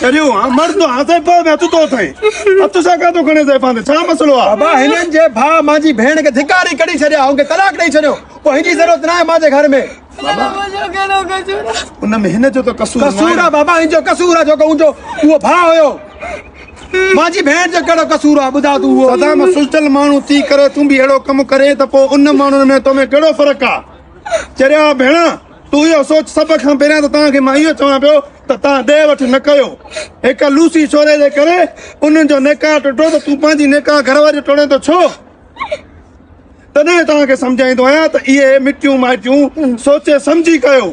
ڪريون ها مر تو ها سائين پاء ۾ هٿ تو اٿئين هٿ سان ڪا تو کڻي سائين پاندي ڇا مسئلو آ بابا هنن جي ڀاء مانجي ڀيڻ کي ڌڪاري ڪڍي ڇڏيا هن کي طلاق ڏئي ڇڏيو پوء هن جي ضرورت نه آهي مانجي گهر ۾ ان ۾ هن جو ته قصور قصور آ بابا هن جو قصور آ جو ڪو جو هو ڀاء هيو مانجي ڀيڻ جو ڪهڙو قصور آ ٻڌا تو هو سدا مان سجتل ماڻهو ٿي ڪري تون به هڙو ڪم ڪري ته پوء ان ماڻهن ۾ تو ۾ ڪهڙو فرق آ چريا ڀيڻا تو اهو سوچ سڀ کان پهريان ته تان کي مان اهو چوان پيو ته تان ڏي وٺ نه ڪيو. هڪ لوسي ڇوري جي ڪري انهن جو نڪاح ٽٽو ته تون پنهنجي نڪاح گهر واري جو ٽوڙين ٿو ڇو؟ تڏهن توهان کي سمجهائيندو آهيان ته اهي مٽيون مائٽيون سوچي سمجهي ڪيو.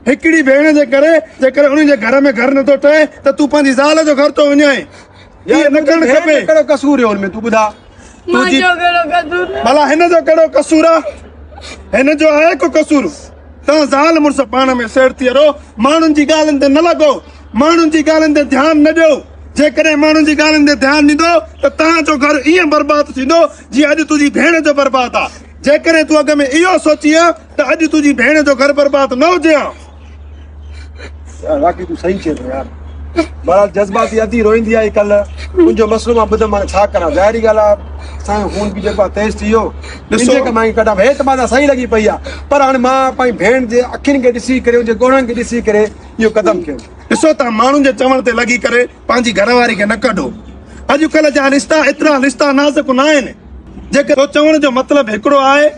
هڪڙي ڀيڻ جي ڪري جيڪڏهن انهن جي گهر ۾ گهر نه ٿو ٺهي ته تون پنهنجي زال جو گهر ٿو وڃائين. اهو نه ڪرڻ کپي. ڀيڻ جو ڪهڙو قصور هيو ان ۾ تون ٻڌاء. ڀلا هن جو ڪهڙو قصور آ هن جو آهي ڪو قصور تان زال مرس پاڻ ۾ سير ٿي رهو ماڻهن جي ڳالهين تي نه لڳو ماڻهن جي ڳالهين تي ڌيان نه ڏيو جيڪڏهن ماڻهن جي ڳالهين تي ڌيان ڏيندو ته تان جو گهر ائين برباد ٿيندو جي اڄ تنهنجي ڀيڻ جو برباد آ جيڪڏهن تون اڳ ۾ اهو سوچي ها ته اڄ تنهنجي ڀيڻ جو گهر برباد نه هجي ها واقعي تون صحيح چئين ٿو يار بهرحال جذباتي ادي روئندي آئي ڪل تنهنجو مسئلو مان ٻڌم مانا ڇا ڪران ظاهري ڳالهه آهي سائين خون به جيڪو تيز ٿي ويو ڏسو مان ڪڍان هيت مانا صحيح لڳي پئي آهي پر هاڻي مان پنهنجي ڀيڻ جي اکين کي ڏسي ڪري ان جي ڳوڙهن کي ڏسي ڪري اهو قدم کيو ڏسو تان ماڻهن جي چوڻ تي لڳي ڪري پنهنجي گهر واري کي نه ڪڍو اڄڪلهه جا رشتا ايترا رشتا نازڪ نه آهن جيڪي چوڻ جو مطلب هڪڙو آهي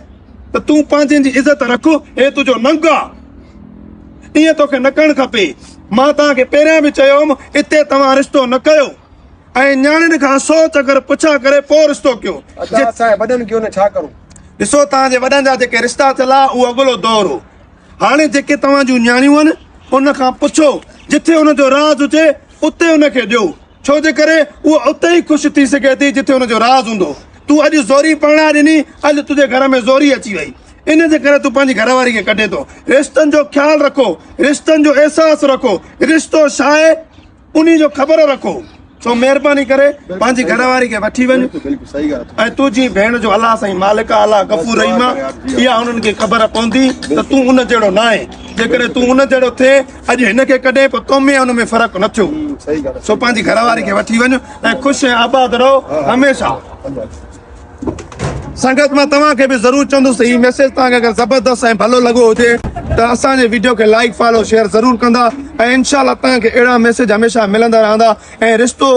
ته تون پنهنجن جي عزت رک، هي تنهنجو ننگ آ. ائين توکي نه ڪرڻ کپي. مان توهان کي پهريان به چيو هوم اتي توهان رشتو نه ڪيو ۽ نياڻين کان سو چڪر پڇا ڪري پوء رشتو ڪيو. ادا اسان جي وڏن ڪيو نه ڇا ڪرون. ڏسو توهان جي وڏن جا جيڪي رشتا ٿيل آ اهو اڳلو دور هو. هاڻي جيڪي توهان جون نياڻيون آهن ان کان پڇو جٿي ان جو راز هجي اتي ان کي ڏيو. ڇو جي ڪري هوء اتي ئي خوش ٿي سگهي ٿي جتي هن جو راز هوندو. تون اڄ زوري پرڻائي ڏني، اڄ تنهنجي گهر ۾ زوري اچي وئي. ان جي ڪري تون پنهنجي گهر واري کي ڪڍين ٿو. رشتن جو خيال رکو، رشتن جو احساس رکو، رشتو ڇا آهي انهي جو خبر رکو. سو مهرباني ڪري پنهنجي گهر واري کي وٺي وڃ ۽ تنهنجي ڀيڻ جو الله سائين مالڪ آ، الله غفور رحيم آ، اها انهن کي خبر پوندي ته تون ان جهڙو ناهين. جيڪڏهن تون ان جهڙو ٿئين اڄ هن کي ڪڏهن به قومي ۽ ان ۾ فرق نه ٿيو سو پنهنجي گهر واري کي وٺي وڃ ۽ خوش ۽ آباد رهو هميشه سنگت مان توهان کي به ضرور چوندس هي ميسيج توهان کي اگر زبردست ۽ ڀلو لڳو هجي ته اسان جي ويڊيو کي لائڪ فالو شيئر ضرور ڪندا ۽ انشاء الله توهان کي اهڙا ميسيج هميشه ملندا رهندا ۽ رشتو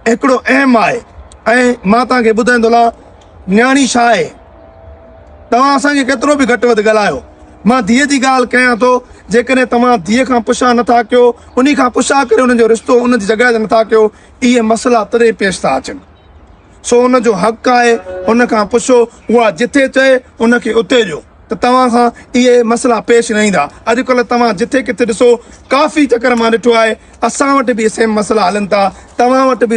هڪڙو اهم آهي ۽ مان توهان کي ٻڌائيندو لها نياڻي ڇا آهي؟ توهان اسان کي ڪيترو به گهٽ وڌ ڳالهايو، مان ڌيء جي ڳالهه ڪيان ٿو، جيڪڏهن توهان ڌيء کان پڇا نه ٿا ڪيو، انهي کان پڇا ڪري ان جو رشتو ان جي جڳهه تي نه ٿا ڪيو، اهي مسئلا تڏهن پيش ٿا اچن. سو ان جو حق آهي، ان کان پڇو، اها جٿي چئي، ان کي اتي ڏيو، ته توهان کان اهي مسئلا پيش نه ايندا. اڄڪلهه توهان جٿي ڪٿي ڏسو، ڪافي چڪر مان ڏٺو آهي، اسان وٽ به اهي سيم مسئلا هلن ٿا، توهان وٽ به.